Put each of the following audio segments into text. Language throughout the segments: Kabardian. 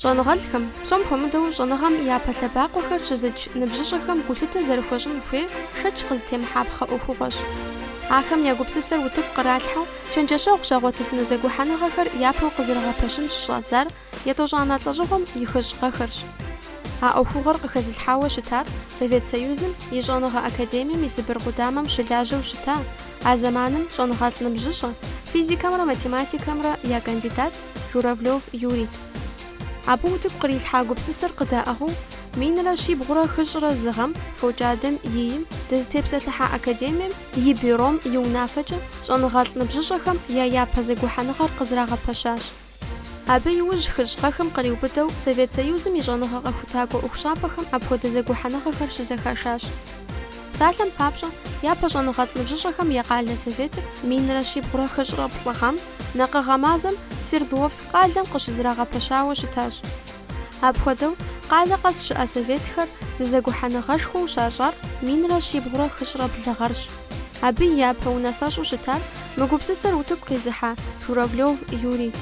Щӏэныгъэлӏхэм, псом хуэмыдэу щӏэныгъэм япэ лъэбакъуэхэр щызыч ныбжьыщӏэхэм гулъытэ зэрыхуэщӏын хуей шэч къызытемыхьэпхъэ ӏуэхугъуэщ. Ахэм я гупсысэр утыку къралъхьэу, чэнджэщэгъу щагъуэтыфыну зэгухьэныгъэхэр япэу къызэрыгъэпэщын щыщӏадзар етӏощӏанэ лӏэщӏыгъуэм и хыщӏ гъэхэрщ. А ӏуэхугъуэр къыхэзылъхьауэ щытар Совет Союзым и Щӏэныгъэ академием и Сыбыр къудамэм щылажьэу щыта, а зэманым щӏэныгъэлӏ ныбжьыщӏэ, физикэмрэ математикэмрэ я кандидат, Журавлев Юрий. Абы утыку кърилъхьа гупсысэр къыдаӏыгъыу минрэ щибгъурэ хыщӏрэ зы гъэм Фокӏадэм и им дызытепсэлъыхьа Академием и Бюром и унафэкӏэ щӏэныгъэлӏ ныбжьыщӏэхэм я япэ зэгухьэныгъэр къызрагъэпэщащ. Абы иужь хыщӏ гъэхэм къриубыдэу Совет Союзым и щӏэныгъэ къэхутакӏуэ ӏуэхущӏапӏэхэм апхуэдэ зэгухьэныгъэхэр щызэхашащ. Псалъэм папщӏэ, япэ щӏэныгъэлӏ ныбжьыщӏэхэм я къалэ Советыр минрэ щибгъурэ хыщӏрэ плӏы гъэм, Накъыгъэ мазэм Свердловск къалэм къыщызрагъэпэщауэ щытащ. Апхуэдэу, къалэ къэс щыӏэ советхэр зы зэгухьэныгъэшхуэу щащӏар минрэ щибгъурэ хыщӏрэ блы гъэрщ. Абы и япэ унафэщӏу щытар мы гупсысэр утыку къизыхьа Журавлев Юрий.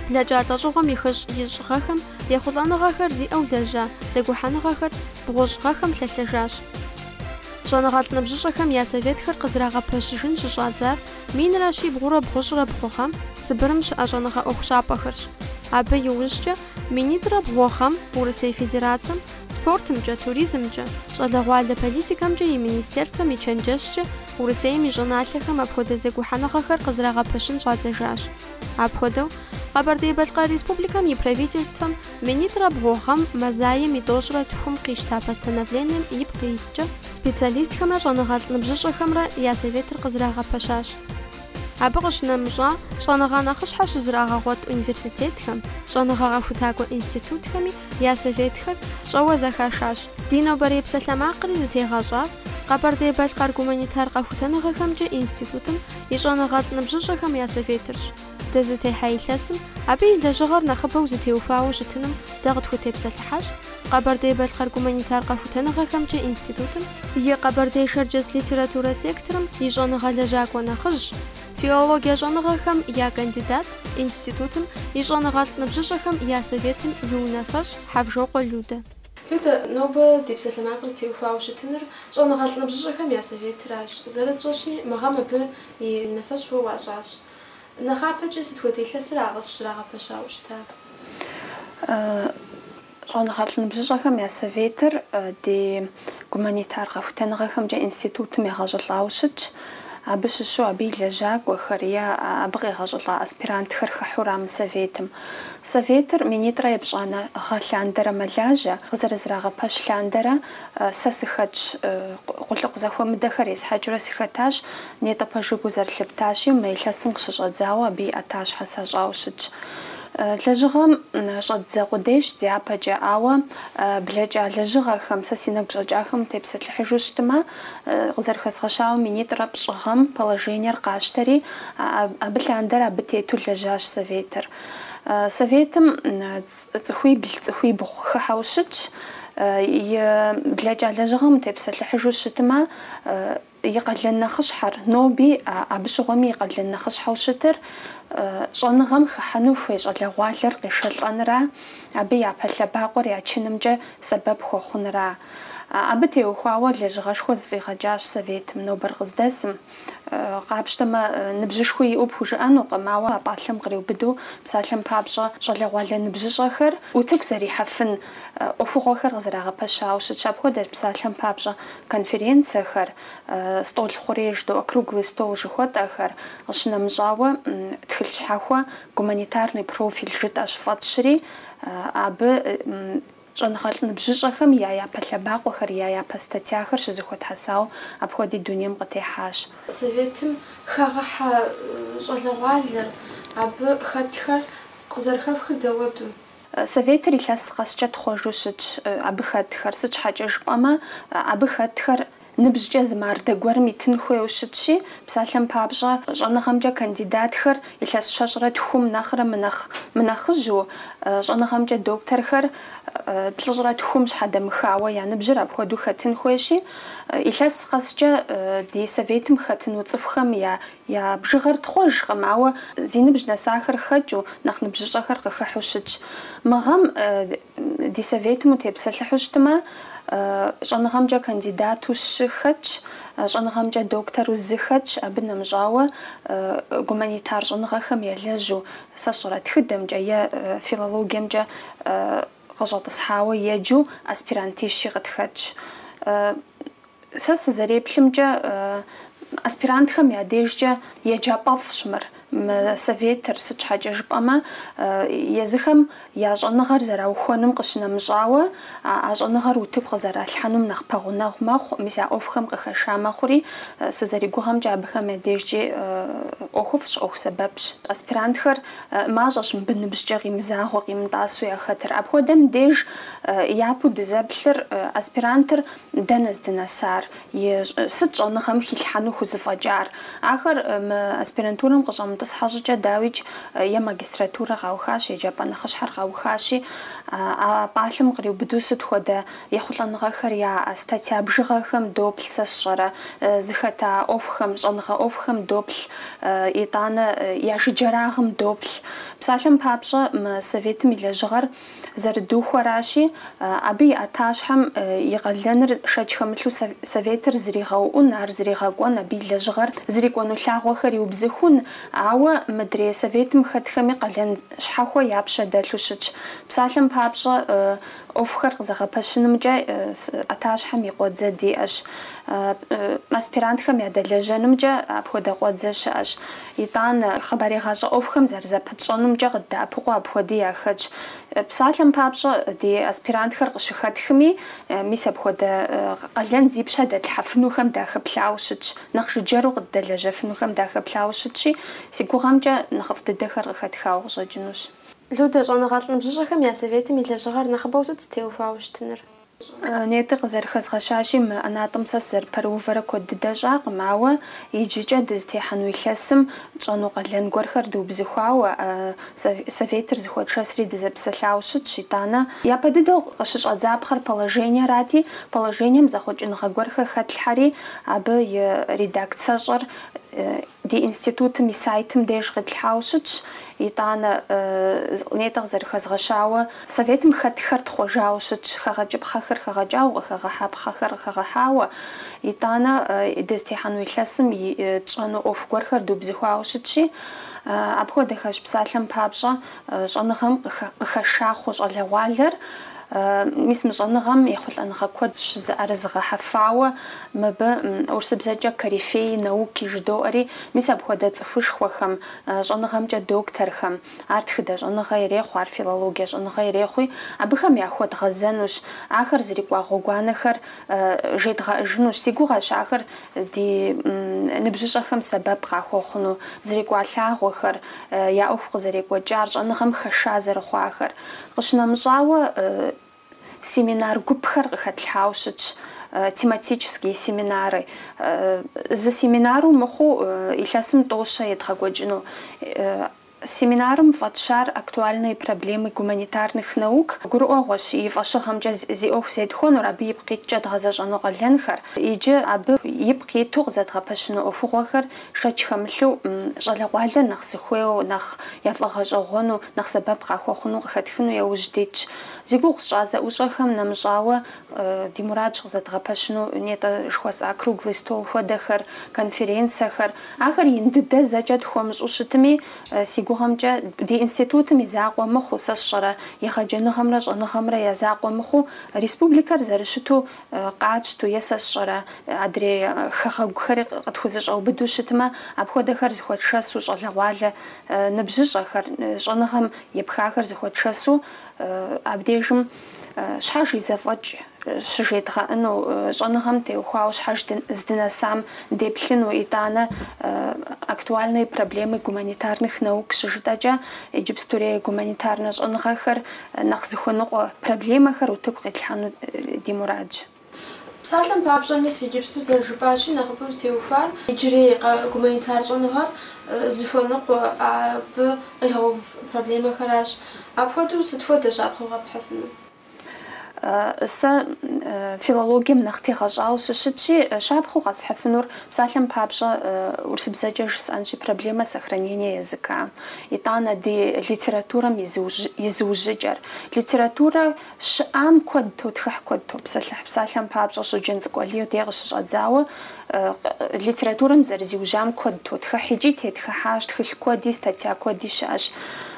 Блэкӏа лӏэщӏыгъуэм и хыщӏ ищӏ гъэхэм ехъулӏэныгъэхэр зиӏэу лэжьа зэгухьэныгъэхэр бгъущӏ гъэхэм лъэлъэжащ. Щӏэныгъэлӏ ныбжьыщӏэхэм я советхэр къызрагъэпэщыжын щыщӏадзар Минрэ щибгъурэ бгъущӏрэ бгъу гъэм Сыбырым щыӏэ щӏэныгъэ ӏуэхущӏапӏэхэрщ. Абы иужькӏэ минитӏрэ бгъу гъэм Урысей Федерацэм спортымкӏэ, туризмкӏэ, щӏалэгъуалэ политикэмкӏэ и министерствэм и чэнджэщкӏэ Урысейм и щӏыналъэхэм апхуэдэ зэгухьэныгъэхэр къызрагъэпэщын щӏадзэжащ. Апхуэдэу, Къэбэрдей-Балъкъэр Республикэм и Правительствэм Минитӏрэ бгъу гъэм Мазаем и тӏощӏрэ тхум къищта постановлением ипкъ иткӏэ, специалистхэмрэ щӏэныгъэлӏ ныбжьыщӏэхэмрэ я Советыр къызрагъэпэщащ. Абы къыщынэмыщӏа, щӏэныгъэ нэхъыщхьэ щызрагъэгъуэт университетхэм, щӏэныгъэ къэхутакӏуэ институтхэми я Советхэр щӏэуэ зэхашащ. Ди нобэрей псалъэмакъри зытегъэщӏар Къэбэрдей-Балъкъэр гуманитар къэхутэныгъэхэмкӏэ институтым и щӏэныгъэлӏ ныбжьыщӏэхэм я Советырщ. Дызытехьэ илъэсым, абы и лэжьыгъэр нэхъыбэу зытеухуауэ щытыным дэ къытхутепсэлъыхьащ Къэбэрдей-Балъкъэр гуманитар къэхутэныгъэхэмкӏэ институтым и Къэбэрдей-Шэрджэс литературэ секторым и щӏэныгъэ лэжьакӏуэ нэхъыжь, филологие щӏэныгъэхэм я кандидат, институтым и щӏэныгъэлӏ ныбжьыщӏэхэм я советым и унафэщӏ Хьэвжокъуэ Людэ. Людэ, нобэ ди псалъэмакъыр зытеухуауэ щытыныр щӏэныгъэлӏ ныбжьыщӏэхэм я советыращ, зэрытщӏэщи, мы гъэм абы и унафэщӏ уэ уащӏащ. Нэхъапэкӏэ сыт хуэдэ илъэсыра къыщызэрагъэпэщауэ щыта? Щӏэныгъэлӏ ныбжьыщӏэхэм я Советыр ди гуманитар къэхутэныгъэхэмкӏэ институтым егъэщӏылӏауэ щытщ. Абы щыщу абы и лэжьакӏуэхэр е абы къегъэщӏылӏа аспирантхэр хыхьура мы Советым. Советыр минитӏрэ епщӏанэ гъэ лъандэрэ мэлажьэ, къызэрызрагъэпэщ лъандэрэ сэ сыхэтщ, къулыкъу зэхуэмыдэхэр есхьэкӏыурэ сыхэтащ, Нетӏэ пэжу гу зэрылъыптащи, мы илъэсым къыщыщӏэдзауэ абы и ӏэтащхьэ сащӏауэ щытщ. Лэжьыгъэм щӏэддзэ къудейщ дяпэкӏэ, ауэ блэкӏа лэжьыгъэхэм, сэ си нэгу щӏэкӏахэм утепсэлъыхьыжу щытмэ, къызэрыхэзгъэщауэ минитӏрэ пщӏы гъэм положениер къащтэри, абы лъандэрэ абы тету лэжьащ Советыр. Советым цӏыхуибл, цӏыхуибгъу хыхьэу щытщ. И блэкӏа лэжьыгъэм утепсэлъыхьыжу щытмэ, И къалэн нэхъыщхьэр, ноби а абы щыгъуэми и къалэн нэхъыщхьэу щытыр, щӏэныгъэм хыхьэну хуей щӏалэгъуалэр къешэлӏэнра, абы япэ лъэбакъуэр ячынымкӏэ сэбэп хуэхъунра. Абы теухуауэ лэжьыгъэшхуэ зыфӏигъэкӏащ Советым, нобэр къыздэсым. Къапщтэмэ, ныбжьышхуи иӏэу пхужыӏэнукъым, ауэ а пӏалъэм къриубыдэу, псалъэм папщӏэ, щӏалэгъуалэ ныбжьыщӏэхэр утыку зэрихьэфын ӏуэхугъуэхэр къызэрагъэпэщауэ щытщ. Апхуэдэщ псалъэм папщӏэ конференцэхэр, стӏол хъурей жыдоӏэ, круглый стол жыхуэтӏэхэр, къыщынэмыщӏауэ, тхылъ щхьэхуэ гуманитарный профиль жытӏэщ фӏэтщри, абы щӏэныгъэлӏ ныбжьыщӏэхэм я япэ лъэбакъуэхэр, я япэ статьяхэр щызэхуэтхьэсауэ апхуэди дунейм къытехьащ. Советым хагъэхьэ щӏалэгъуалэр, абы хэтхэр къызэрыхэфхыр дауэду? Советыр илъэс къэскӏэ тхъуэжу щытщ абы хэтхэр, сыт щхьэкӏэ жыпӏэмэ, абы хэтхэр ныбжькӏэ зы мардэ гуэрым итын хуейуэ щытщи, псалъэм папщӏэ, щӏэныгъэмкӏэ кандидатхэр илъэс щэщӏрэ тхум нэхърэ мынэхъ мынэхъыжьу, щӏэныгъэмкӏэ докторхэр плӏыщӏрэ тхум щхьэдэмыхауэ я ныбжьыр апхуэдэу хэтын хуейщи, илъэс къэскӏэ ди Советым хэтыну цӏыхухэм я Я бжыгъэр тхъуэжкъым, ауэ зи ныбжь нэсахэр хэкӏыу, нэхъ ныбжьыщӏэхэр къыхыхьу щытщ. Мы гъэм ди Советым утепсэлъыхьу щытмэ, щӏэныгъэмкӏэ кандидату щы хэтщ, щӏэныгъэмкӏэ доктору зы хэтщ, абы нэмыщӏауэ, гуманитар щӏэныгъэхэм елэжьу, сэ сщӏэрэ, тхыдэмкӏэ е филологиемкӏэ къыщӏэтӏысхьауэ еджэу аспирантищи къытхэтщ. Сэ сызэреплъымкӏэ, аспирантхэм я дежкӏэ еджапӏэфӏщ мыр, мы Советыр, сыт щхьэкӏэ жыпӏэмэ, езыхэм я щӏэныгъэр зэраухуэнум къыщынэмыщӏауэ, а щӏэныгъэр утыку къызэралъхьэнум нэхъ пэгъунэгъу мэхъу, мис а ӏуэхухэм къыхэша мэхъури, сызэригугъэмкӏэ абыхэм я дежкӏи ӏуэхуфӏщ, ӏуэху сэбэпщ. Аспирантхэр мащӏэщ мыбы ныбжькӏэ къимызагъэу, къимытӏасэу яхэтыр. Апхуэдэм деж япэу дызэплъыр, аспирантыр Дэнэ здынэсар? Сыт щӏэныгъэм хилъхьэну хузыфӏэкӏар? Ахэр мы аспирантурэм къыщӏэмытӏысхьэ щӏыкӏэ, дауикӏ, е магистратурэ къаухащ, еджапӏэ нэхъыщхьэр къаухащи, а пӏалъэм къриубыдэу сыт хуэдэ ехъулӏэныгъэхэр яӏэ? Статья бжыгъэхэм доплъ, сэ сщӏэрэ, зыхэта ӏуэхухэм, щӏэныгъэ ӏуэхухэм доплъ, итӏанэ я жыджэрагъым доплъ. Псалъэм папщӏэ, мы Советым и лэжьыгъэр зэрыдухуэращи, абы и ӏэтащхьэм и къалэныр шэч хэмылъу Советыр зэригъэуӏун, ар зэригъэкӏуэн, абы и лэжьыгъэр зэрыкӏуэну лъагъуэхэр иубзыхун, ауэ мыдрей Советым хэтхэми къалэн щхьэхуэ я пщэ дэлъу щытщ. Псалъэм папщӏэ, ӏуэхухэр къызэгъэпэщынымкӏэ ӏэтащхьэм и къуэдзэ диӏэщ. Аспирантхэм ядэлэжьэнымкӏэ апхуэдэ къуэдзэ щыӏэщ. Итӏанэ, хъыбарегъащӏэ ӏуэхухэм зэрызэпытщӏэнумкӏэ къыддэӏэпыкъуу апхуэди яхэтщ. Псалъэм папщӏэ, ди аспирантхэр къыщыхэтхми, мис апхуэдэ къалэн зи пщэ дэтлъхьэфынухэм дахэплъауэ щытщ, нэхъ жыджэру къыддэлэжьэфынухэм дахэплъауэ щытщи, си гугъэмкӏэ, нэхъыфӏ дыдэхэр къыхэтхауэ къыщӏэкӏынущ. Людэ, щӏэныгъэлӏ ныбжьыщӏэхэм я Советым и лэжьыгъэр нэхъыбэу сыт зытеувауэ щытынур? Нетӏэ къызэрыхэзгъэщащи, мы ӏэнатӏэм сэ сызэрыпэрыувэрэ куэд дыдэ щӏакъым, ауэ иджыкӏэ дызытехьэну илъэсым тщӏэну къалэн гуэрхэр дыубзыхуауэ, Советыр зыхуэтшэсри дызэпсэлъауэ щытщ, итӏанэ. Япэ дыдэу къыщыщӏэдзапхъэр положениерати, положением зэхъуэкӏыныгъэ гуэрхэр хэтлъхьэри, абы и редакцэщӏэр Ди институтым и сайтым деж къитлъхьауэ щытщ, итӏанэ, нетӏэ къызэрыхэзгъэщауэ, Советым хэтхэр тхъуэжауэ щытщ, хэгъэкӏыпхъэхэр хэгъэкӏауэ, къыхэгъэхьэпхъэхэр къыхэгъэхьауэ, итӏанэ, дызытехьэну илъэсым и тщӏэну ӏуэху гуэрхэр дубзыхуауэ щытщи, апхуэдэхэщ псалъэм папщӏэ, Щӏэныгъэм къыхэша хъу щӏалэгъуалэр, мис мы щӏэныгъэм ехъулӏэныгъэ куэд щызыӏэрызыгъэхьэфауэ, мыбы урысыбзэкӏэ корифеи науки жыдоӏэри, мис апхуэдэ цӏыхушхуэхэм, щӏэныгъэмкӏэ докторхэм, ар тхыдэ щӏэныгъэ ирехъу, ар филологие щӏэныгъэ ирехъуи, абыхэм яхуэдгъэзэнущ, ахэр зрикӏуа гъуэгуанэхэр жедгъэӏыжынущ, си гугъэщ ахэр ди ныбжьыщӏэхэм сэбэп къахуэхъуну, зрикӏуа лъагъуэхэр, я ӏуэху къызэрекӏуэкӏар, щӏэныгъэм хэша зэрыхъуахэр. Къыщынэмыщӏауэ, семинар гупхэр къыхэтлъхьауэ щытщ, тематические семинары. Зы семинару мыхъуу, илъэсым тӏощэ едгъэкӏуэкӏыну. Семинарым фӏэтщар Актуальные проблемы гуманитарных наук гурыӏуэгъуэщ, и фӏэщыгъэмкӏэ зи ӏуэху зетхуэнур, абы ипкъ иткӏэ дгъэзэщӏэну къалэнхэр иджы абы ипкъ иту къызэдгъэпэщыну ӏуэхугъуэхэр шэч хэмылъу щӏалэгъуалэр нэхъ зыхуейуэ, нэхъ яфӏэгъэщӏэгъуэну, нэхъ сэбэп къахуэхъуну къыхэтхыну яужь дитщ. Зи гугъу сщӏа зэӏущӏэхэм нэмыщӏауэ, Ди мурадщ къызэдгъэпэщыну нетӏэ жыхуэсӏа круглый стол хуэдэхэр, конференцэхэр. Ахэр ин дыдэ зэкӏэ тхуэмыщӏу щытми, си гугъэмкӏэ, ди институтым и закъуэ мыхъуу, сэ сщӏэрэ, егъэджэныгъэмрэ щӏэныгъэмрэ я закъуэ мыхъуу, республикэр зэрыщыту къатщту е сэ сщӏэрэ, адрей хэгъэгухэри къытхузэщӏэубыдэу щытмэ, апхуэдэхэр зыхуэтшэсу, щӏалэгъуалэ ныбжьыщӏэхэр, щӏэныгъэм епхахэр зыхуэтшэсу абдежым. Щхьэж и зэфӏэкӏ щыжедгъэӏэну, щӏэныгъэм теухуауэ щхьэж здынэсам деплъыну, итӏанэ Актуальные проблемы гуманитарных наук щыжытӏэкӏэ иджыпстурей гуманитарнэ щӏэныгъэхэр нэхъ зыхуэныкъуэ проблемэхэр утыку къитлъхьэну ди мурадщ. Псалъэм папщӏэ, мис иджыпсту зэрыжыпӏащи, нэхъыбэу зытеухуар иджырей гуманитар щӏэныгъэр зыхуэныкъуэ, абы къигъэув проблемэхэращ. Апхуэдэу сыт хуэдэ щапхъэу къэпхьыфынур? Сэ филологием нэхъ тегъэщӏауэ сыщытщи, щапхъэу къэсхьыфынур, псалъэм папщӏэ, урысыбзэкӏэ жысӏэнщи, проблема сохранения языка, итӏанэ ди литературэм и зыужьыкӏэр. Литературэ. Щыӏам куэд тотхыхь, куэд топсэлъыхь. Псалъэм папщӏэ, Щоджэнцӏыкӏу Алий дей къыщыщӏэдзауэ литературэм зэрызиужьам куэд тотхыхь. Икӏи тетхыхьащ, тхылъ куэди, статья куэди щыӏэщ.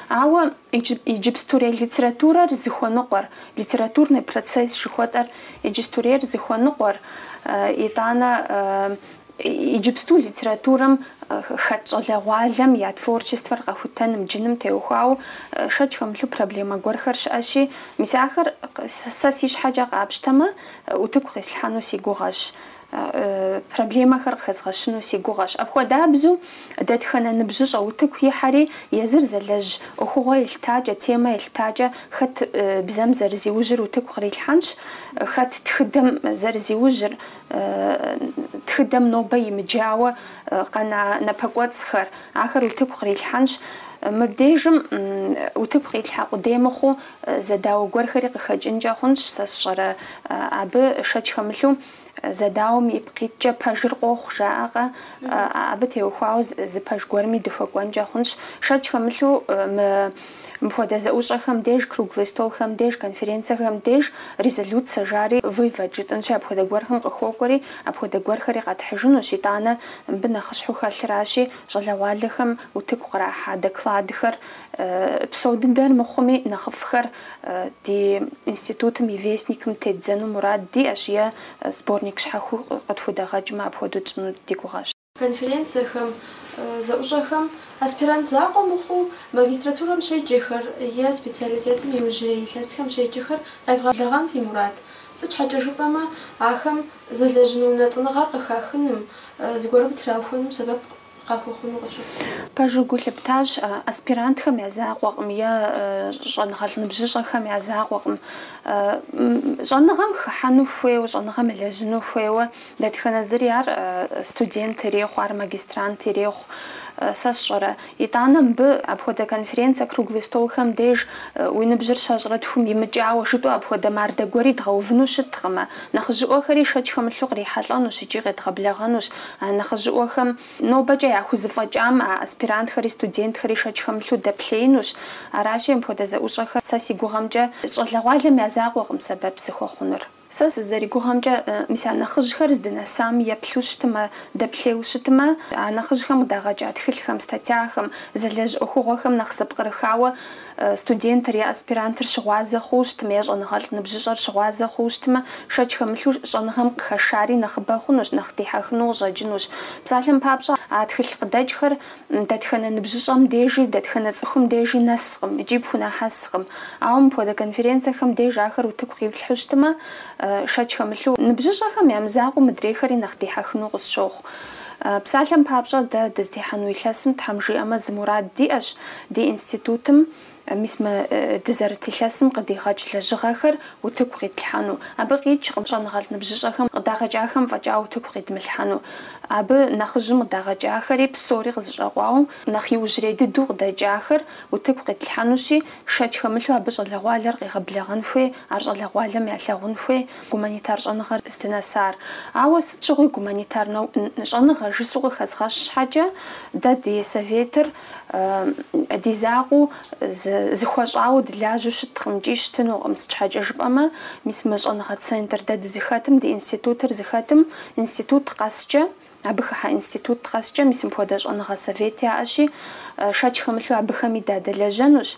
Ауэ иджыпстурей литературэр зыхуэныкъуэр, литературный процесс жыхуэтӏэр иджыпстурейр зыхуэныкъуэр, итӏанэ Иджыпсту литературэм хэт щӏалэгъуалэм я творчествэр къэхутэным джыным теухуауэ шэч хэмылъу проблемэ гуэрхэр щыӏэщи, мис ахэр сэ си щхьэкӏэ къапщтэмэ, утыку къислъхьэну си гугъэщ, проблемэхэр къыхэзгъэщыну си гугъэщ. Апхуэдабзу, дэтхэнэ ныбжьыщӏэ утыку ихьэри, езыр зэлэжь ӏуэхугъуэ елъытакӏэ, темэ елъытакӏэ, хэт бзэм зэрызиужьыр утыку кърилъхьэнщ, хэт тхыдэм зэрызиужьыр, Тхыдэм нобэ имыджауэ къэна напэкӏуэцӏхэр, ахэр утыку кърилъхьэнщ. Мыбдежым утыку къилъхьэ къудей мыхъуу, зэдауэ гуэрхэри къыхэкӏынкӏэ хъунщ, сэ сщӏэрэ абы шэч хэмылъу, зэдауэм ипкъ иткӏэ пэжыр къохъу, жаӏэкъэ, абы теухуауэ зы пэж гуэрми дыхуэкӏуэнкӏэ хъунщ, шэч хэмылъу мы Мыпхуэдэ зэӏущӏэхэм деж, круглый столхэм деж, конференцэхэм деж резолюцэ жари вывод жытӏынщи, апхуэдэ гуэрхэм къыхуокӏуэри, апхуэдэ гуэрхэри къэтхьыжынущ, итӏанэ мыбы нэхъыщхьэу хэлъыращи, щӏалэгъуалэхэм утыку кърахьа докладхэр, псо дыдэр мыхъуми, нэхъыфӏхэр ди институтым и вестникым теддзэну мурад диӏэщ е сборник щхьэхуэу къытхудэгъэкӏмэ апхуэдэу тщӏыну ди гугъэщ. конференцэхэм, зэӏущӏэхэм аспирант закъуэ мыхъуу магистратурэм щеджэхэр е специалитетым иужьрей илъэсхэм щеджэхэр къевгъэблэгъэн фи мурад? Сыт щхьэкӏэ жыпӏэмэ, ахэм зэлэжьыну унэтӏыныгъэр къыхахыным, зыгуэрым траухуэным сэбэп къахуэхъуну къысщохъу. Пэжу гу лъыптащ, аспирантхэм я закъуэкъым е щӏэныгъэлӏ ныбжьыщӏэхэм я закъуэкъым щӏэныгъэм хыхьэну хуейуэ, щӏэныгъэм елэжьыну хуейуэ, Дэтхэнэ зыри ар студент ирехъу, ар магистрант ирехъу, сэ сщӏэрэ. Итӏанэ мыбы апхуэдэ конференцэ, круглый столхэм деж уи ныбжьыр щэщӏрэ тхум имыкӏауэ жытӏэу апхуэдэ мардэ гуэри дгъэувыну щыткъымэ. Нэхъыжьыӏуэхэри шэч хэмылъу кърихьэлӏэнущ икӏи къедгъэблэгъэнущ. А нэхъыжьыӏуэхэм нобэкӏэ яхузэфӏэкӏам а аспирантхэри студентхэри шэч хэмылъу дэплъеинущ. Аращи, мыпхуэдэ зэӏущӏэхэр сэ си гугъэмкӏэ щӏалэгъуалэм я закъуэкъым сэбэп зыхуэхъунур. Сэ сызэригугъэмкӏэ, мис а нэхъыжьхэр здынэсам еплъу щытмэ, дэплъейуэ щытмэ, а нэхъыжьхэм къыдагъэкӏа тхылъхэм, статьяхэм, зэлэжь ӏуэхугъуэхэм нэхъ зэпкърыхауэ студентыр е аспирантыр щыгъуазэ хъууэ щытмэ, е щӏэныгъэлӏ ныбжьыщӏэр щыгъуазэ хъууэ щытмэ, шэч хэмылъу щӏэныгъэм къыхэшари нэхъыбэ хъунущ, нэхъ дихьэхыну къыщӏэкӏынущ. Псалъэм папщӏэ, а тхылъ къыдэкӏхэр Дэтхэнэ ныбжьыщӏэм дежи, дэтхэнэ цӏыхум дежи нэскъым икӏи пхунэхьэскъым. Ауэ мыпхуэдэ конференцэхэм деж ахэр утыку къиплъхьэу щытмэ, шэч хэмылъу, ныбжьыщӏэхэм я мызакъуэу мыдрейхэри нэхъ дихьэхыну къысщохъу. Псалъэм папщӏэ, дэ дызытехьэну илъэсым, Тхьэм жиӏэмэ, зы мурад диӏэщ ди институтым. Мис мы дызэрыт илъэсым къыдигъэкӏ лэжьыгъэхэр утыку къитлъхьэну. Абы къикӏкъым щӏэныгъэлӏ ныбжьыщӏэхэм къыдагъэкӏахэм фӏэкӏа утыку къидмылъхьэну. Абы нэхъыжьым къыдагъэкӏахэри псори къызэщӏэкъуауэ нэхъ иужьрей дыдэу къыдэкӏахэр утыку къитлъхьэнущи, шэч хэмылъу абы щӏалэгъуалэр къигъэблэгъэн хуей, ар щӏалэгъуалэм ялъагъун хуей гуманитар щӏэныгъэр здынэсар. Ауэ сыт щыгъуи гуманитарнэ щӏэныгъэ жысӏэу къыхэзгъэщ щхьэкӏэ, дэ ди Советыр, Ди закъуэу зыхуэщӏауэ дылажьэу щыткъым икӏи щытынукъым, сыт щхьэкӏэ жыпӏэмэ, мис мы щӏэныгъэ центр дэ дызыхэтым, ди институтыр зыхэтым институт къэскӏэ, абы хыхьэ институт къэскӏэ мис мыпхуэдэ щӏэныгъэ совет яӏэщи, шэч хэмылъу абыхэми дадэлэжьэнущ,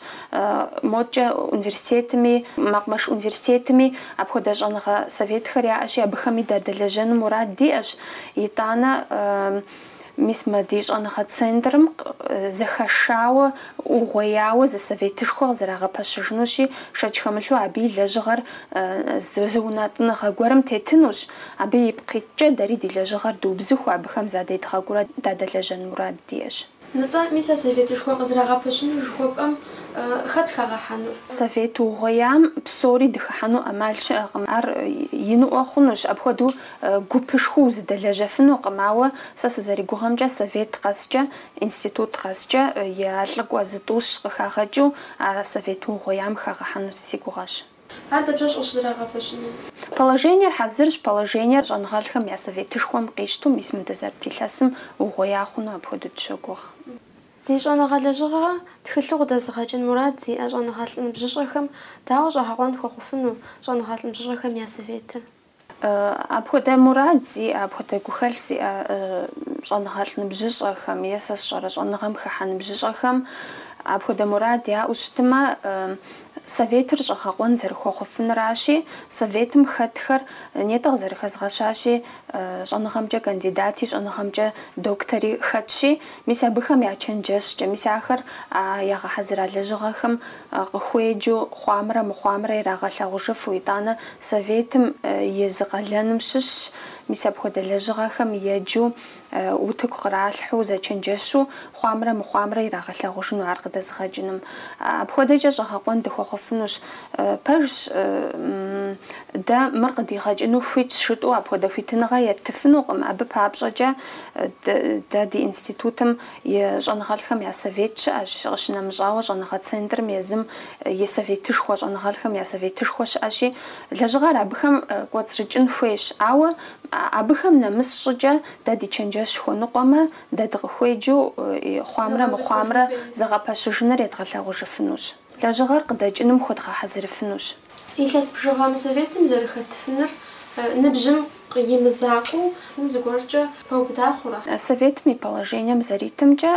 модкӏэ университетми, мэкъумэш университетми апхуэдэ щӏэныгъэ советхэр яӏэщи, абыхэми дадэлэжьэну мурад диӏэщ, итӏанэ. Мис мы ди щӏэныгъэ центрым зэхэшауэ, угъуеяуэ зы советышхуэ къызэрагъэпэщыжынущи, шэч хэмылъу абы и лэжьыгъэр зы унэтӏыныгъэ гуэрым тетынущ. Абы ипкъ иткӏэ дэри ди лэжьыгъэр дубзыхуу, абыхэм задедгъэкӏуурэ дадэлэжьэн мурад диӏэщ. Нтӏэ, мис а советышхуэ къызэрагъэпэщыну жыхуэпӏэм хэт хагъэхьэнур? Совет угъуеям псори дыхыхьэну ӏэмал щыӏэкъым. Ар иныӏуэ хъунущ. Апхуэдэу Гупышхуэу узэдэлэжьэфынукъым, ауэ сэ сызэригугъэмкӏэ, совет къэскӏэ, институт къэскӏэ я лӏыкӏуэ зытӏущ къыхагъэкӏыу а совет угъуеям хагъэхьэну си гугъэщ. Ар дапщэщ къыщызэрагъэпэщынур? Положениер хьэзырщ, положениер щӏэныгъэлӏхэм я советышхуэм къищтэу мис мы дызэрыт илъэсым угъуея хъуну апхуэдэу дыщогугъ. Зи щӏэныгъэ лэжьыгъэхэр тхылъу къыдэзыгъэкӏын мурад зиӏэ щӏэныгъэлӏ ныбжьыщӏэхэм дауэ щӏэгъэкъуэн хуэхъуфыну щӏэныгъэлӏ ныбжьыщӏэхэм я советыр? Апхуэдэ мурад зиӏэ, апхуэдэ гухэлъ зиӏэ щӏэныгъэлӏ ныбжьыщӏэхэм е, сэ сщӏэрэ, щӏэныгъэм хыхьэ ныбжьыщӏэхэм апхуэдэ мурад яӏэу щытымэ, Советыр щӏэгъэкъуэн зэрыхуэхъуфынращи, Советым хэтхэр нетӏэ къызэрыхэзгъэщащи, щӏэныгъэмкӏэ кандидати, щӏэныгъэмкӏэ доктори хэтщи, мис абыхэм я чэнджэщкӏэ, мис ахэр а ягъэхьэзыра лэжьыгъэхэм къыхуеджэу хъуамрэ мыхъуамрэ ирагъэлъагъужыфу, итӏанэ Советым и зы къалэным щыщщ, мис апхуэдэ лэжьыгъэхэм еджэу, утыку къралъхьэу, зэчэнджэщу хъуамрэ мыхъуамрэ ирагъэлъагъужыну ар къыдэзыгъэкӏыным. Апхуэдэкӏэ щӏэгъэкъуэн дыхуэхъуфынущ. Пэжщ, дэ мыр къыдигъэкӏыну хуитщ жытӏэу апхуэдэ хуитыныгъэ еттыфынукъым, абы папщӏэкӏэ дэ ди институтым И щӏэныгъэлӏхэм я совет щыӏэщ. Къыщынэмыщӏауэ, щӏэныгъэ центрым езым и советышхуэ, щӏэныгъэлӏхэм я советышхуэ щыӏэщи, лэжьыгъэр абыхэм кӏуэцӏрыкӏын хуейщ. Ауэ абыхэм нэмыс щӏыкӏэ дэ ди чэнджэщ хуэныкъуэмэ, дэ дыкъыхуеджэу хъуамрэ мыхъуамрэ зэгъэпэщыжыныр едгъэлъагъужыфынущ. Лэжьыгъэр къыдэкӏыным хуэдгъэхьэзырыфынущ. Илъэс бжыгъэ мы Советым зэрыхэтыфыныр ныбжьым и мызакъуэу зыгуэркӏэ пэубыда хъурэ? Советым и положением зэритымкӏэ,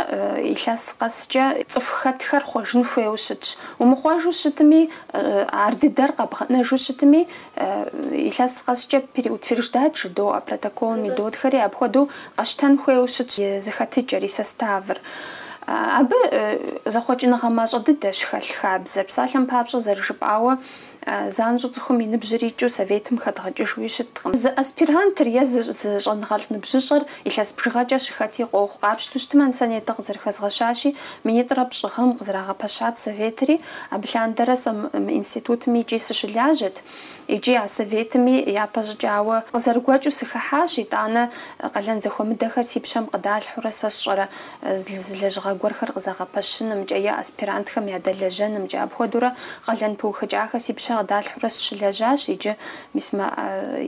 илъэс къэскӏэ цӏыху хэтхэр хъуэжын хуейуэ щытщ. Умыхъуэжу щытми, ар дыдэр къэбгъэнэжу щытми, Илъэс къэскӏэ переутверждать жыдоӏэ, протоколым идотхэри апхуэдэу къэщтэн хуейуэ щытщ и зэхэтыкӏэр, и составыр. Абы зэхъуэкӏыныгъэ мащӏэ дыдэщ хэлъ хабзэр. Псалъэм папщӏэ, зэрыжыпӏауэ, занщӏэу цӏыхум и ныбжьыр икӏыу Советым хэдгъэкӏыжуи щыткъым. Зы аспирантыр е зы щӏэныгъэлӏ ныбжьыщӏэр илъэс бжыгъэкӏэ щыхэти къохъу, къапщту щытмэ, ну сэ нетӏэ къызэрыхэзгъэщащи, Минитӏрэ пщӏы гъэм къызэрагъэпэщат Советри, абы лъандэрэ сэ мы институтми икӏи сыщылажьэт, икӏи а Советми япэ щӏыкӏауэ къызэрыгуэкӏыу сыхыхьащ, итӏанэ къалэн зэхуэмыдэхэр си пщэм къыдалъхьурэ сэ сщӏэрэ зы лэжьыгъэ гуэрхэр къызэгъэпэщынымкӏэ е аспирантхэм ядэлэжьэнымкӏэ. Апхуэдэурэ къалэн пыухыкӏахэр си пщэ къыдалъхьурэ сыщылэжьащ, иджы мис мэ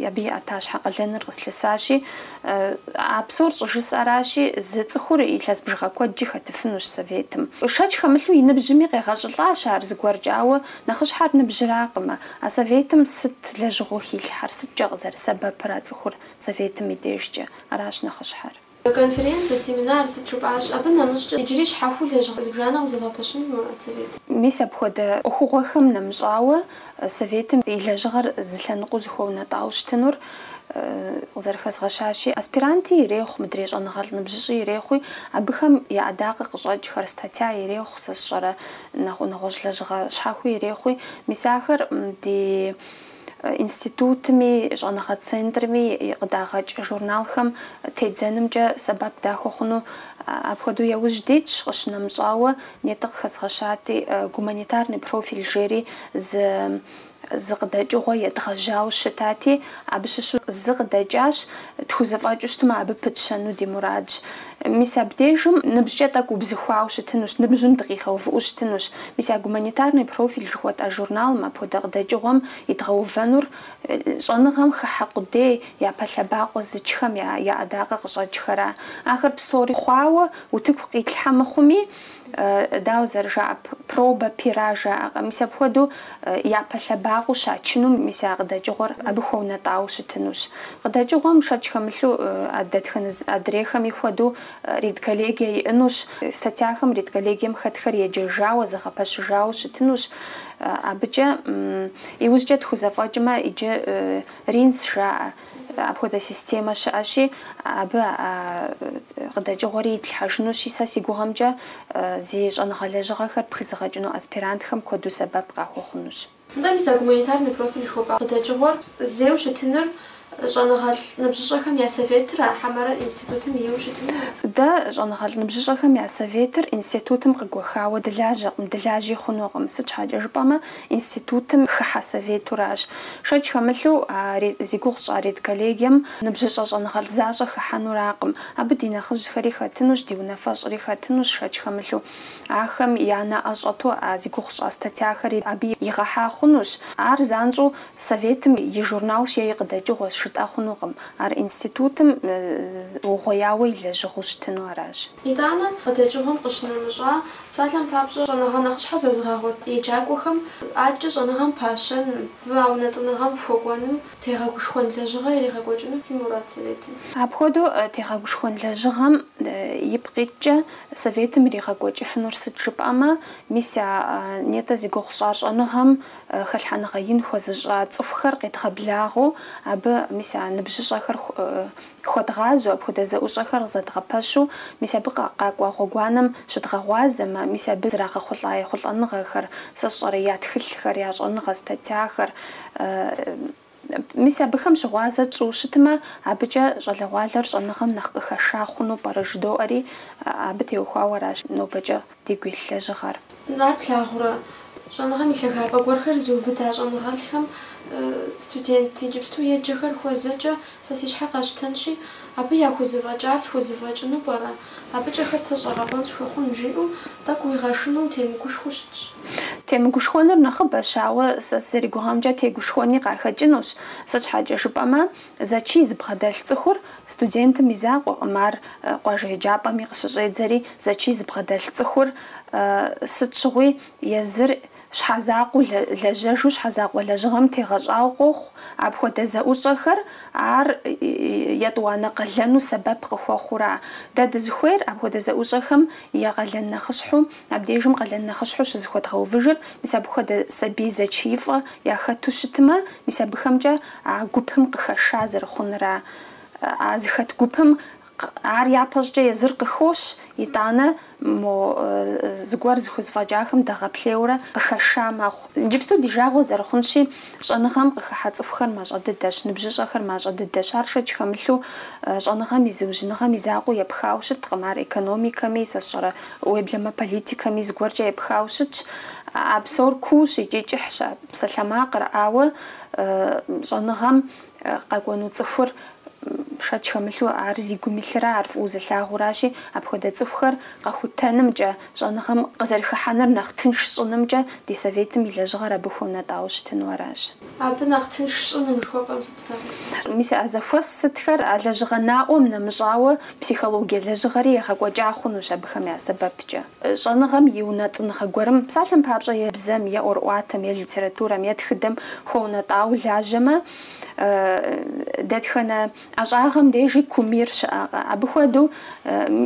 абы и ӏэтащхьэ къалэныр къыслъысащи, А псор щӏыжысӏэращи, зы цӏыхур илъэс бжыгъэ куэдкӏи хэтыфынущ Советым. Шэч хэмылъу и ныбжьми къегъэщӏылӏащ ар зыгуэркӏэ, ауэ нэхъыщхьэр ныбжьыракъымэ. А Советым сыт лэжьыгъэу хилъхьэр, сыткӏэ къызэрысэбэпыр а цӏыхур Советым и дежкӏэ? Аращ нэхъыщхьэр. Конференцэ, семинар, сыт жыпӏащ, абы нэмыщӏкӏэ иджыри щхьэхуэу лэжьыгъэ зыбжанэ къызэвгъэпэщыну фи мурад Советым. Мис апхуэдэ ӏуэхугъуэхэм нэмыщӏауэ, Советым и лэжьыгъэр зы лъэныкъуэу зыхуэунэтӏауэ щытынур къызэрыхэзгъэщащи, аспиранти ирехъу, мыдрей щӏэныгъэлӏ ныбжьыщӏи ирехъуи, абыхэм я ӏэдакъэ къыщӏэкӏхэр, статья ирехъу, сэ сщӏэрэ, нэгъуэщӏ лэжьыгъэ щхьэхуи ирехъуи. Мис ахэр ди институтми, щӏэныгъэ центрми къыдагъэкӏ журналхэм тедзэнымкӏэ сэбэп дахуэхъуну апхуэдэу яужь дитщ, къыщынэмыщӏауэ, Нетӏэ къыхэзгъэщати, гуманитарный профиль жери зы зы къыдэкӏыгъуэ едгъэжьауэ щытати, абы щыщу зы къыдэкӏащ, тхузэфӏэкӏыу щытмэ, абы пытщэну ди мурадщ. Мис абдежым ныбжькӏэ тӏэкӏу убзыхуауэ щытынущ, ныбжьым дыкъигъэувыӏэу щытынущ. Мис а гуманитарный профиль жыхуэтӏа журналым апхуэдэ къыдэкӏыгъуэм идгъэувэнур щӏэныгъэм хыхьэ къудей, япэ лъэбакъуэ зычхэм я я ӏэдакъэ къыщӏэкӏхэра. Ахэр псори хъуауэ, Утыку къитлъхьэ мыхъуми, дауэ зэрыжаӏэ, проба пера жаӏэкъэ, мис апхуэдэу япэ лъэбакъуэу щачынум мис а къыдэкӏыгъуэр абы хуэунэтӏауэ щытынущ. Къыдэкӏыгъуэм шэч хэмылъу а дэтхэнэ зы адрейхэми хуэдэу редколлегие иӏынущ, статьяхэм редколлегием хэтхэр еджэжауэ, зэгъэпэщыжауэ щытынущ. Абыкӏэ иужькӏэ тхузэфӏэкӏмэ, иджы РИНЦ жаӏэ. Апхуэдэ системэ щыӏэщи, абы а къыдэкӏыгъуэри итлъхьэжынущи, сэ си гугъэмкӏэ зи щӏэныгъэ лэжьыгъэхэр пхызыгъэкӏыну аспирантхэм куэду сэбэп къахуэхъунущ. Нтӏэ, мис а гуманитарный профиль жыхуэпӏа къыдэкӏыгъуэр зейуэ щытыныр щӏэныгъэлӏ ныбжьыщӏэхэм я Советыра, хьэмэрэ институтым ейуэ щытынура? Дэ щӏэныгъэлӏ ныбжьыщӏэхэм я Советыр институтым къыгуэхауэ дылажьэкъым, дылажьи хъунукъым. Сыт щхьэкӏэ жыпӏэмэ, Институтым хыхьэ советуращ. Шэч хэмылъу, а зи гугъу тщӏа редколлегием ныбжьыщӏэ щӏэныгъэлӏ защӏэ хыхьэнуракъым. Абы ди нэхъыжьхэри хэтынущ, ди унафэщӏри хэтынущ, шэч хэмылъу, ахэм я нэӏэ щӏэту а зи гугъу тщӏа статьяхэри абы игъэхьа хъунущ. Ар занщӏэу Советым и журналщ е и къыдэкӏыгъуэщ жытӏэ хъунукъым. Ар институтым угъуеяуэ и лэжьыгъэу щытыну аращ. Итӏанэ, къыдэкӏыгъуэм къыщынэмыщӏа псалъэм папщӏэ, щӏэныгъэ нэхъыщхьэ зэзыгъэгъуэт еджакӏуэхэм адэкӏэ щӏэныгъэм пащэным, а унэтӏыныгъэм хуэкӏуэным тегъэгушхуэн лэжьыгъэ иригъэкӏуэкӏыну фи мурад Советым? Апхуэдэу тегъэгушхуэн лэжьыгъэм ипкъ иткӏэ Советым иригъэкӏуэкӏыфынур сыт жыпӏэмэ, мис а нетӏэ зи гугъу тщӏар щӏэныгъэм хэлъхьэныгъэ ин хуэзыщӏа цӏыхухэр къедгъэблагъэу, абы мис а ныбжьыщӏэхэр Хуэдгъазэу апхуэдэ зэӏущӏэхэр къызэдгъэпэщу, мис абы къакӏуа гъуэгуанэм щыдгъэгъуазэмэ, мис абы зрагъэхъулӏа ехъулӏэныгъэхэр, сэ сщӏэрэ, я тхылъхэр, я щӏэныгъэ статьяхэр, мис абыхэм щыгъуазэ тщӏу щытмэ, абыкӏэ щӏалэгъуалэр щӏэныгъэм нэхъ къыхэша хъуну пӏэрэ жыдоӏэри, абы теухуауэ аращ нобэкӏэ. дигу илъ лэжьыгъэр. Ар плъагъурэ, щӏэныгъэм и лъагапӏэ гуэрхэр зыубыда щӏэныгъэлӏхэм студент иджыпсту еджэхэр хуэзэкӏэ сэ си щхьэ къэсщтэнщи, абы яхузэфӏэкӏар схузэфӏэкӏыну пӏэрэ? Абыкӏэ хэт сэ щӏэгъэкъуэн схуэхъун? жиӏэу тӏэкӏу уигъэшынэу темыгушхуэу щытщ. Темыгушхуэнур нэхъыбэщ, ауэ сэ сызэригугъэмкӏэ тегушхуэни къахэкӏынущ. Сыт щхьэкӏэ жыпӏэмэ, Зэчий зыбгъэдэлъ цӏыхур студентым и закъуэкъым, ар къуажэ еджапӏэми къыщыщӏедзэри, зэчий зыбгъэдэлъ цӏыхур сыт щыгъуи езыр щхьэзакъуэу лэжьэжу щхьэзакъуэ лэжьыгъэм тегъэщӏауэ къохъу, апхуэдэ зэӏущӏэхэр ар етӏуанэ къалэну сэбэп къыхуэхъура? Дэ дызыхуейр апхуэдэ зэӏущӏэхэм я къалэн нэхъыщхьэу Абдежым къалэн нэхъыщхьэу щызыхуэдгъэувыжыр, мис абы хуэдэ сабий зэчиифӏэ яхэту щытмэ, мис абыхэмкӏэ а гупым къыхэша зэрыхъунра. А зыхэт гупым ар япэщӏкӏэ езыр къыхощ, итӏанэ мо зыгуэр зыхузэфӏэкӏахэм дэгъэплъейурэ къыхэша мэхъу. Иджыпсту ди жагъуэ зэрыхъунщи, щӏэныгъэм къыхыхьэ цӏыхухэр мащӏэ дыдэщ, ныбжьыщӏэхэр мащӏэ дыдэщ. Ар шэч хэмылъу щӏэныгъэм и зыужьыныгъэм и закъуэу епхауэ щыткъым, ар экономикэми, сэ сщӏэрэ, уеблэмэ политикэми зыгуэркӏэ епхауэ щытщ. А псор куущ икӏи кӏыхьщ а псалъэмакъыр, ауэ щӏэныгъэм къэкӏуэну цӏыхур шэч хэмылъу ар зи гум илърэ ар фӏыуэ зылъагъуращи, апхуэдэ цӏыхухэр къэхутэнымкӏэ, щӏэныгъэм къызэрыхыхьэныр нэхъ тынш щӏынымкӏэ ди Советым и лэжьыгъэр абы хуэунэтӏауэ щытыну аращ. Абы нэхъ тынш щӏыным жыхуэпӏэм сыт? Мис а зэхуэс сытхэр а лэжьыгъэ наӏуэм нэмыщӏауэ психологие лэжьыгъэри егъэкӏуэкӏа хъунущ абыхэм я сэбэпкӏэ. Щӏэныгъэм и унэтӏыныгъэ гуэрым, псалъэм папщӏэ, е бзэм, е ӏуэрыӏуатэм, е литературэм, е тхыдэм хуэунэтӏауэ лажьэмэ, дэтхэнэ ӏэщӏагъэм дежи кумир щыӏэкъэ? Абы хуэдэу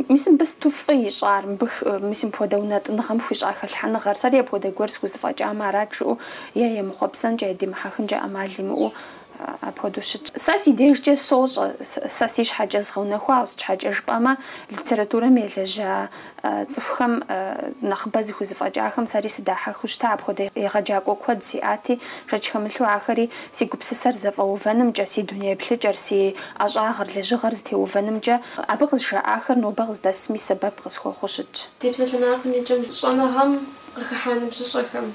мис мыбы сыту фӏы ищӏар, мыбы мис мыпхуэдэ унэтӏыныгъэм хуищӏа хэлъхьэныгъэр? Сэри апхуэдэ гуэр схузэфӏэкӏамэ арат жыӏэу е емыхъуэпсэнкӏэ, е димыхьэхынкӏэ ӏэмал имыӏэу апхуэдэу щытщ. Сэ си дежкӏэ сощӏэ, сэ си щхьэкӏэ згъэунэхуауэ, сыт щхьэкӏэ жыпӏэмэ, литературэм елэжьа цӏыхухэм, нэхъыбэ зыхузэфӏэкӏахэм сэри сыдахьэхыу щыта, апхуэдэ егъэджакӏуэ куэд сиӏати, шэч хэмылъу ахэри си гупсысэр зэфӏэувэнымкӏэ, си дуней еплъыкӏэр, си ӏэщӏагъэр, лэжьыгъэр зытеувэнымкӏэ абы къызжаӏахэр нобэ къыздэсми сэбэп къысхуэхъуу щытщ. Ди псалъэмакъым и кӏэм щӏэныгъэм къыхыхьа ныбжьыщӏэхэм,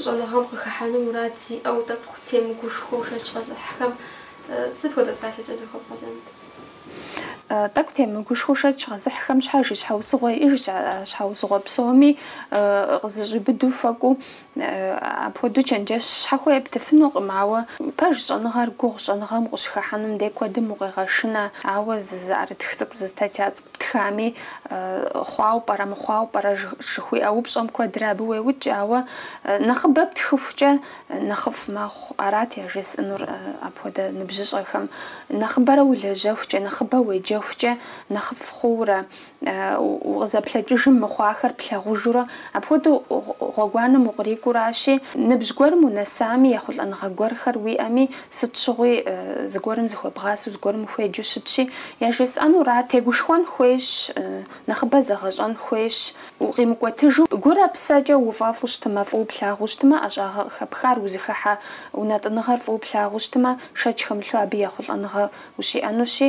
Щӏэныгъэм къыхыхьэну мурад зиӏэу, тӏэкӏу темыгушхуэу шэч къэзыхьхэм сыт хуэдэ псалъэкӏэ захуэбгъэзэнт? Тӏэкӏу темыгушхуэу шэч къэзыхьхэм щхьэж и щхьэусыгъуэ иӏэжщ, а щхьэусыгъуэ псоми къызэщӏиубыдэу хуэкӏуэу. Апхуэдэу чэнджэщ щхьэхуэ ептыфынукъым, ауэ пэж щӏэныгъэр гугъущ, щӏэныгъэм укъыщыхыхьэнум дей куэдым укъегъэшынэ, ауэ зы, зы ӏэрытх цӏыкӏу, зы статья цӏыкӏу птхами, хъуауэ пӏэрэ, мыхъуауэ пӏэрэ жыхуиӏэ упщӏэм куэдрэ абы уеукӏ, ауэ нэхъыбэ птхыхукӏэ нэхъыфӏ мэхъу, арат яжесӏэнур апхуэдэ ныбжьыщӏэхэм. Нэхъыбэрэ улэжьэхукӏэ, нэхъыбэ уеджэхукӏэ нэхъыфӏ хъуурэ, укъызэплъэкӏыжым мыхъуахэр плъагъужурэ, апхуэдэу гъуэгуанэм укърикӏуэу аращи, ныбжь гуэрым унэсами, ехъулӏэныгъэ гуэрхэр уиӏэми, Сыт щыгъуи зыгуэрым зыхуэбгъасэу, зыгуэрым ухуеджэу щытщи, яжесӏэнура? Тегушхуэн хуейщ, нэхъыбэ зэгъэщӏэн хуейщ. Укъимыкӏуэтыжу, гурэ псэкӏэ уфӏэфӏу щытымэ, фӏыуэ плъагъуу щытымэ, ӏэщӏагъэ къыхэпхар узыхыхьэ унэтӏыныгъэр фӏыуэ плъагъуу щытымэ, шэч хэмылъу абы ехъулӏэныгъэ ущиӏэнущи,